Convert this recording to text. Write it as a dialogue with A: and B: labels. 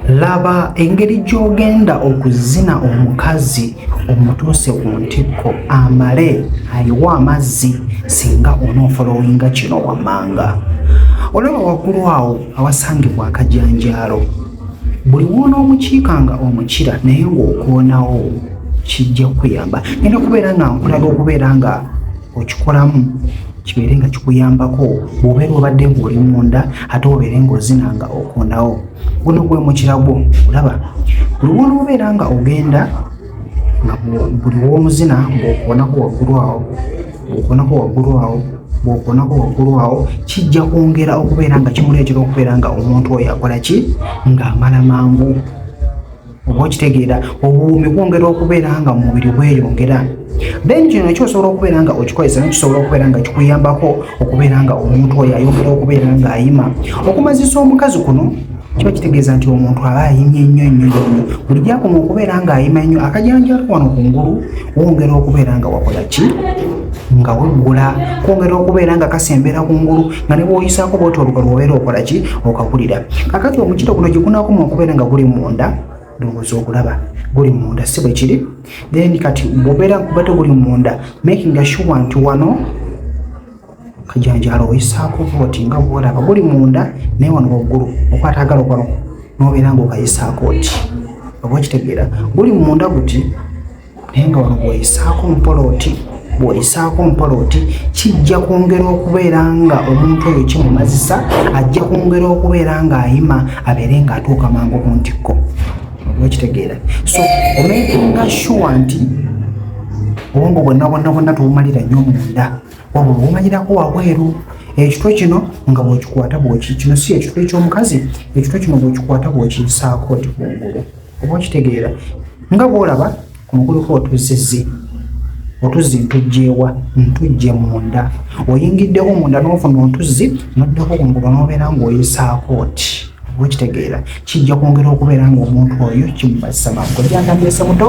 A: laba engeri gy'ogenda okuzina omukazi omutuuse ku ntikko amale ayiwa amazzi singa onoofolowinga kino wammanga olaba waggulu awo awasangibwa akajanjaalo buli woona omukiika nga omukira naye ng'okoonawo kijja kukuyamba nina kubeera nga nkulaga okubeera nga okikolamu kibeere nga kikuyambako obeera obadde ng'oli munda ate obeere ng'ozina nga okondawo guno gwe mukira gwo olaba luwona obeera nga ogenda nga buli w'omuzina ng'okonako waggulu awo ng'okonako waggulu awo bwokonako waggulu awo kijja kwongera okubeera nga kimuleetera okubeera nga omuntu oyo akola ki ng'amala mangu oba okitegeera obuwuumi bwongera okubeera nga mu mubiri bweyongera then kino ekyo osobola okubeera nga okikozesa no kisobola okubeera nga kikuyambako okubeera nga omuntu oyo ayongera okubeera nga ayima okumazisa omukazi kuno kiba kitegeeza nti omuntu aba ayimye nnyo nnyo nnyo buli gyakoma okubeera nga ayima nnyo akajanjalo wano ku ngulu wongera okubeera nga wakola ki nga weggula kwongera okubeera nga kasembera ku ngulu nga ne bwoyisaako bwoti oluga lwobeera okola ki okagulira kakati omukiro guno gye gunakoma okubeera nga guli munda ndowooza okulaba guli munda si bwe kiri then kati bwobeera kuba teguli munda making asure nti wano kajanjalo oyisaako bwoti nga bwolaba guli munda naye wano waggulu okwatagala okwano nobeera nga okayisaako oti oba okitegeera guli munda guti naye nga wano bwoyisaako mpola oti bwoyisaako mpola oti kijja kwongera okubeera nga omuntu oyo kimumazisa ajja kwongera okubeera ng'ayima abeere ng'atuuka mangu ku ntikko okitegeera so omekinga sure nti obwongo bwonna bwonna bwonna tubumalira nnyo munda wabula obumalirako wabweru ekitwe kino nga bwekikwata bweki kino si ekitwe ekyomukazi ekitwe kino bwekikwata bwekiisaako ti kungulu oba okitegeera nga bwolaba ku mukulu ko otuzizi otuzzi ntujjeewa ntujje munda oyingiddewo munda n'ofuna otuzzi noddako ku mugoba n'obeera ng'oyisaako oti oba okitegeera kijja kwongera okubeera ng'omuntu oyo kimubazisa mangu gyandambyese muto